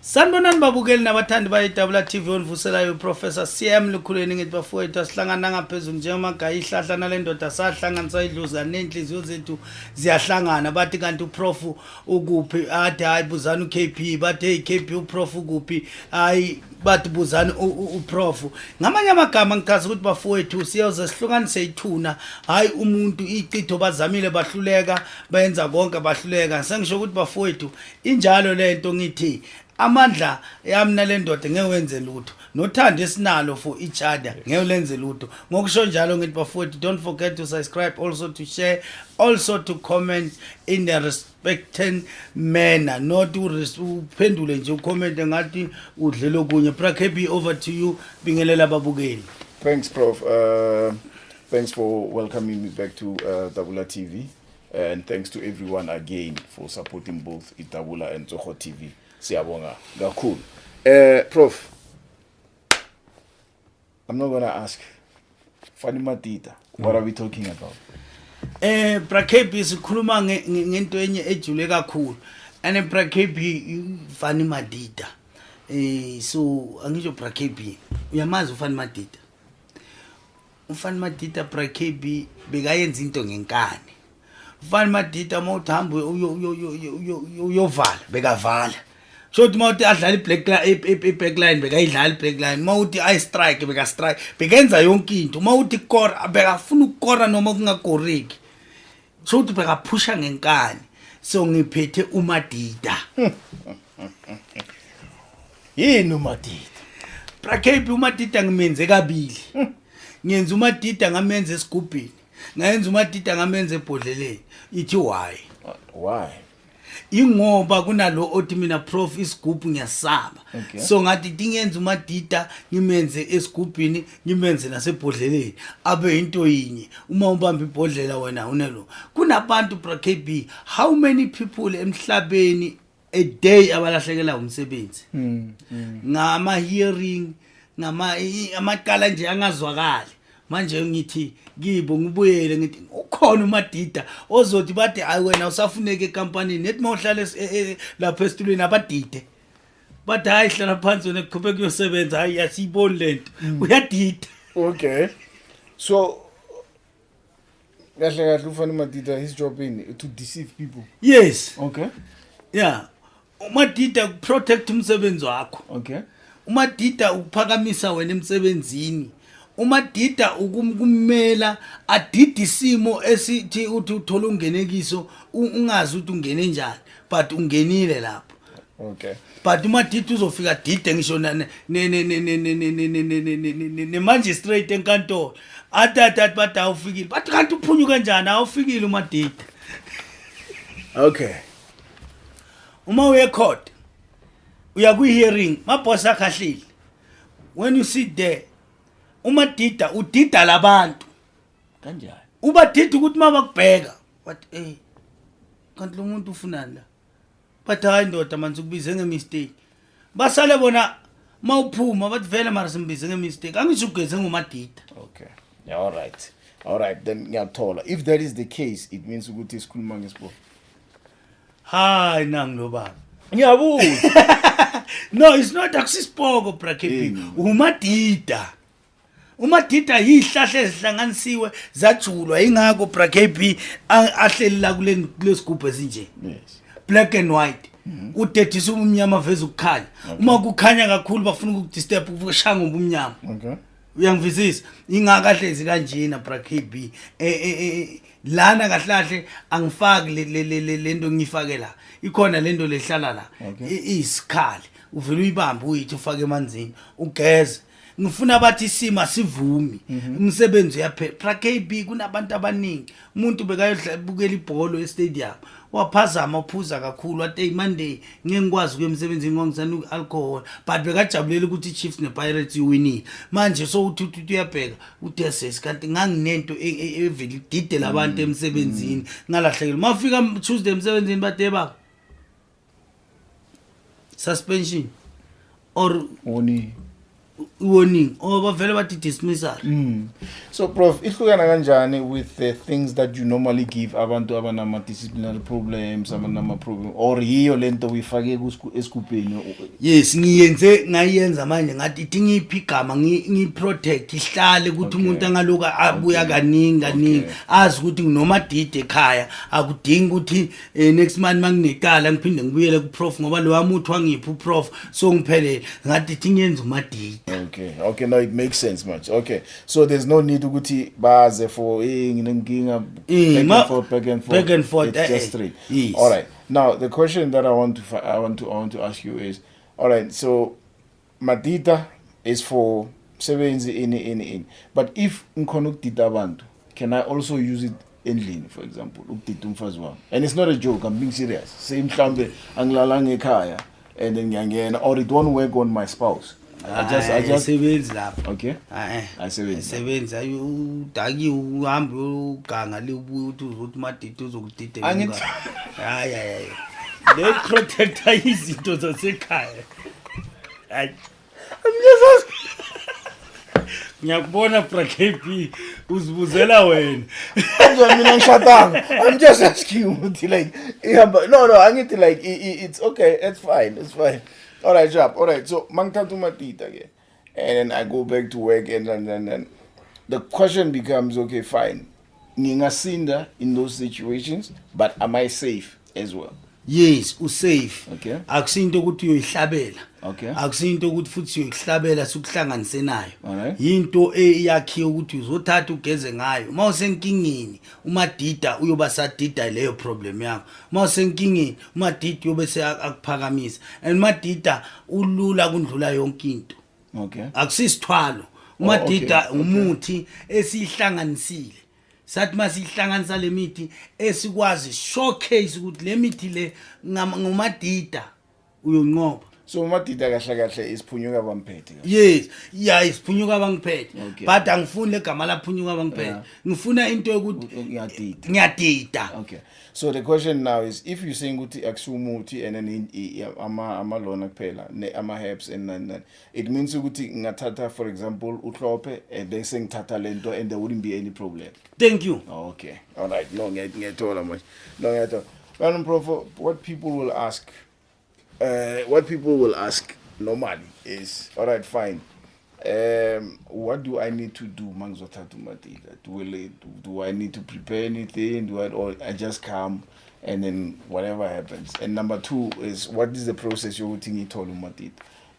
sanibonani babukeli nabathandi bayedabula tv onivuselayo uprofessor cm lukhulweni ngithi bafowethu asihlangana ngaphezulu njengomagayi ihlahla nale ndoda sahlanganisa idluzi kanenhliziyo zethu ziyahlangana bathi kanti uprof ukuphi athi hhayi buzani ukp bathi heyi kp uprof ukuphi hhayi bathi buzani uprof ngamanye amagama ngichaza ukuthi bafowethu siyoze sihlukanise ithuna hhayi umuntu icitho bazamile bahluleka benza konke bahluleka sengisho ukuthi bafowethu injalo lento ngithi amandla yami nalendoda ngeke wenze lutho nothando esinalo for each other ngeke ulenze lutho ngokusho njalo ngithi bafowethu don't forget to subscribe also to share also to comment in a respected manner not uphendule nje ucommente ngathi udlele okunye prakb over to you bingelela ababukeli thanks prof uh, thanks for welcoming me back to uh, dabula tv and thanks to everyone again for supporting both itabula and tsoho tv siyabonga kakhulu eh prof i'm not gonna ask fani matita what are we talking about eh brakebi sikhuluma ngento enye ejule kakhulu and brakebi fani matita eh so angisho brakebi uyamazi ufani matita Umfana Madida Bra KB bekayenza into ngenkani. Umfana Madida uma uthi hamba uyovala bekavala. So uthi uma uthi adlala i-black i-back line bekayidlala i-black line. Uma uthi i strike beka strike. Bekenza yonke into. Uma uthi kora bekafuna ukukora noma kungakoreki. so uthi bekaphusha ngenkani so ngiphethe umadida yini umadida brakhebi umadida ngimenze kabili ngenza umadida ngamenza esigubhini ngayenza umadida ngamenza ebhodleleni ithi why why ingoba kunalo othi mina prof isigubhu ngiyasaba okay. so ngathi tingenza umadida ngimenze esigubhini ngimenze nasebhodleleni abe into yinye uma ubamba ibhodlela wena unelo kunabantu brakb how many people emhlabeni a day abalahlekela umsebenzi mm, mm. ngama hearing ngama amaqala nje angazwakali manje ngithi kibo ngibuyele ngithi ukhona umadida ozothi bathi hayi wena usafuneke ekampanini nethi uma uhlala e, e, lapha esitulweni abadide bathi hayi hlala phansi wena kuqhubeka kuyosebenza hayi yasiyiboni le nto mm. uyadida okay so kahle kahle ufanele umadida his job ini to deceive people yes okay yeah umadida ukuprotect umsebenzi wakho okay umadida ukuphakamisa wena emsebenzini umadida ukumela adida isimo esithi uthi uthola ungenekiso ungazi ukuthi ungene njani but ungenile lapho okay but umadida uzofika dide ngisho nemangistrate enkantolo athi athi athi bathi awufikile bathi kanti uphunyuke njani awufikile umadida okay uma uye court uya kwi hearing ma boss akhahlile when you sit there uma dida udida labantu kanjani uba dida ukuthi mabakubheka but eh kanti lo muntu ufunani la but hayi ndoda manje ukubize ngemistake basale bona mawuphuma bathi vele mara simbize ngemistake angisho ugeze ngomadida okay yeah, all right all right then ngiyakuthola if that is the case it means ukuthi sikhuluma ngesibo hayi nangilobaba ngiyabuza no it's not akusisipoko brakepini umadida umadida yizihlahla ezihlanganisiwe zajulwa ingakho brakb ahleli la kulesigubhu esinje black and white mhm. udedisa ubumnyama veza ukukhanya uma kukhanya kakhulu bafuna ukukudisturb ukushaya ngobumnyama uyangivisisa ingakahlezi kanjena brakb e, e, e, lana kahle kahle angifaki lento ngiyifake la ikhona lento lehlala la isikhali uvele uyibambe uyithi ufake emanzini ugeze ngifuna bathi isimo asivumi mhm. umsebenzi uyaphela pra kb kunabantu abaningi umuntu bekayobukela ibholo estadium waphazama uphuza kakhulu wathi eyi monday ngeke ngikwazi ukuya emsebenzini ngongisana i-alcohol but bekajabulela ukuthi i-chiefs ne-pirates iwinile manje so uthi uthi uyabheka udeses kanti nganginento e, e, evele ididela abantu mm, emsebenzini mm. ngalahlekelwa mafika tuesday emsebenzini batebaba suspension or warning warning or bavele bathi dismissal mm. so prof ihlukana kanjani with the things that you normally give abantu abanama disciplinary problems abanama problem or yiyo lento uyifake esigubheni yes ngiyenze ngayenza manje ngathi ithi ngiphi igama ngi protect ihlale ukuthi umuntu angaloku abuya kaningi kaningi azi ukuthi noma dide ekhaya akudingi ukuthi eh next month manginecala ngiphinde ngibuyele ku prof ngoba lo wami uthi wangipha u prof so ngiphelele ngathi thi ngenza uma date okay okay now it makes sense much okay so there's no need ukuthi baze for eh nginenkinga eh, back and forth back and forth back and forth it's eh, just eh, three yes. all right now the question that i want to i want to i want to ask you is all right so Madida is for msebenzi ini ini ini but if ngikhona ukudida abantu can i also use it endlini for example ukudida umfazi wami and it's not a joke i'm being serious say mhlawumbe angilalanga ekhaya and then ngiyangena or it won't work on my spouse I just, I just... sebenzi lapho okay ayisebenzi ayi udakiwe uhambe uganga libuye uthi uzothi umadidi uzokudida hayi hayi le protector izinto zasekhaya Ay. Ngiyazaz. Ngiyakubona bra KP uzibuzela wena. Nje mina ngishadanga. I'm just asking ukuthi like ihamba no no angithi like i- i- it's okay it's fine it's fine. All right job all right so mangithatha umatita ke. and then I go back to work and and and, and. the question becomes okay fine ngingasinda in those situations but am I safe as well yes usafe okay. akusinto ukuthi uyoyihlabela okay. akusinto ukuthi futhi uyoyihlabela sikuhlanganise nayo right. yinto eyakhiwe ukuthi uzothatha ugeze ngayo uma usenkingeni umadida uyoba sadida leyo problem yakho uma usenkingeni umadida uyobe seakuphakamisa and umadida ulula kundlula yonke into okay akusisithwalo oh, umadida umuthi esihlanganisile sathi masihlanganisa lemithi esikwazi showcase ukuthi lemithi le ngumadida uyonqoba so umadida kahle kahle isiphunyuka bamphethe yes ya isiphunyuka bangiphethe Okay. but angifuni legama laphunyuka bangiphethe Yeah. ngifuna into yokuthi ngiyadida ngiyadida okay so the question now is if you saying ukuthi akusiwo umuthi and then in- i- i- ama ama lona kuphela ne ama herbs and nani nani it means ukuthi ngathatha for example uhlophe and then sengithatha lento and there wouldn't be any problem thank you okay all right no ngiya- ngiyathola manje no ngiyathola kanti mprofo what people will ask uh, what people will ask normally is all right fine um what do i need to do uma ngizothatha umatila do, will it, do i need to prepare anything do I, or i just come and then whatever happens and number two is what is the process yokuthi ngiyithole umatila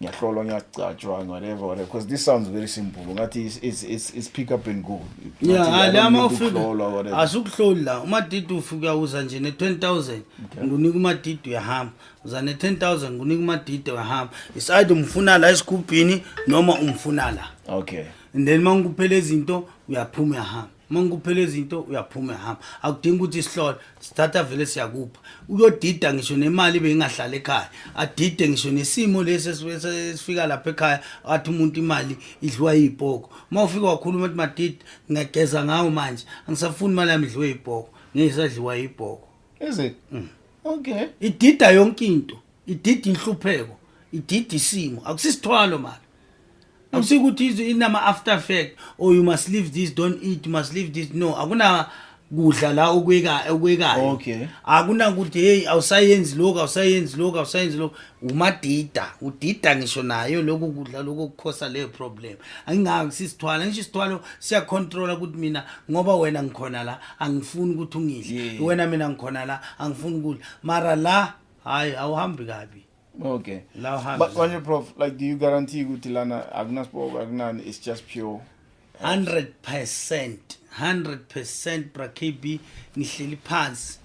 ngiyahlolwa ngiyagcatshwa whatever whatever because this sounds very simple ngathi it's, it's, it's, it's pick up and go yeah Ngathi, la I don't uma need ufika ukuhlolwa, whatever. asukuhloli la umadidi ufika uza nje ne-10000 ngunika umadidi uyahamba uza ne-10000 ngunika umadidi uyahamba it's either umfuna la esigubhini noma umfuna la okay and then uma ngikuphela izinto uyaphuma uyahamba uma ngikuphela izinto uyaphuma ehamba akudingi ukuthi isihlole sithatha vele siyakupha uyodida ngisho nemali bengingahlala ekhaya adide ngisho nesimo lesi esifika lapha ekhaya athi umuntu imali idliwa yibhoko uma ufika wakhuluma ukuthi madida ngiyageza ngawo manje angisafuni imali yami idliwe yibhoko ngiyisadliwa yibhoko is it mm. okay idida yonke into idida inhlupheko idida isimo akusisithwalo mali awusi ukuthi izwe inama after fact or oh, you must leave this don't eat you must leave this no akuna kudla la okweka okwekayo okay akuna ukuthi hey awusayenzi lokho awusayenzi lokho awusayenzi lokho umadida udida ngisho nayo lokho kudla lokho kukhosa le problem angingaki sisithwala ngisho isithwalo siya control ukuthi mina ngoba wena ngikhona la angifuni ukuthi ungidle wena mina ngikhona la angifuni ukudla mara la hayi awuhambi kabi Okay. Now hands. But when you prof, like do you guarantee ukuthi lana akunaspoke akunani it's just pure 100% 100% bra KB ngihleli phansi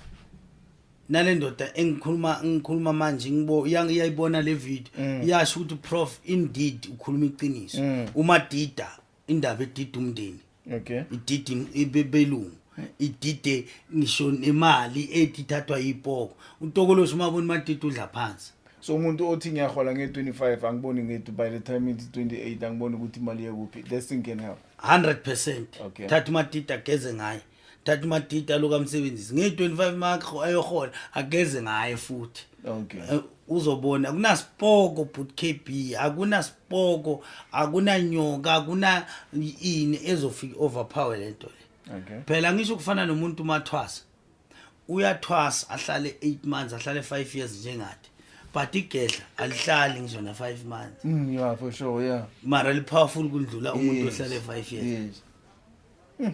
nale ndoda engikhuluma ngikhuluma manje ngibo iyayibona le video mm. iyasho ukuthi prof indeed ukhuluma iqiniso mm. uma dida indaba edida umndeni okay idida ibelungu idide ngisho nemali ethi thathwa yipoko utokoloshi uma bona imadida udla phansi so umuntu othi ngiyahola nge-25 angiboni ngethi by the time it's 28 angiboni ukuthi imali yekuphi this thing can help 100 percent Okay. thatha imadida geze ngayo thatha umadidi aloku amsebenzisi ngeyi-25 makho ayohola ageze ngaye futhi okay eh, uzobona akunasipoko but kb akunasipoko akunanyoka akuna ini ezofika overpower lento le okay phela ngisho kufana nomuntu umathwasa uyathwasa ahlale 8 months ahlale 5 years njengathi but igedla alihlali ngisho na 5 months mm yeah for sure yeah mara li powerful kundlula umuntu ohlale 5 years yes. mm.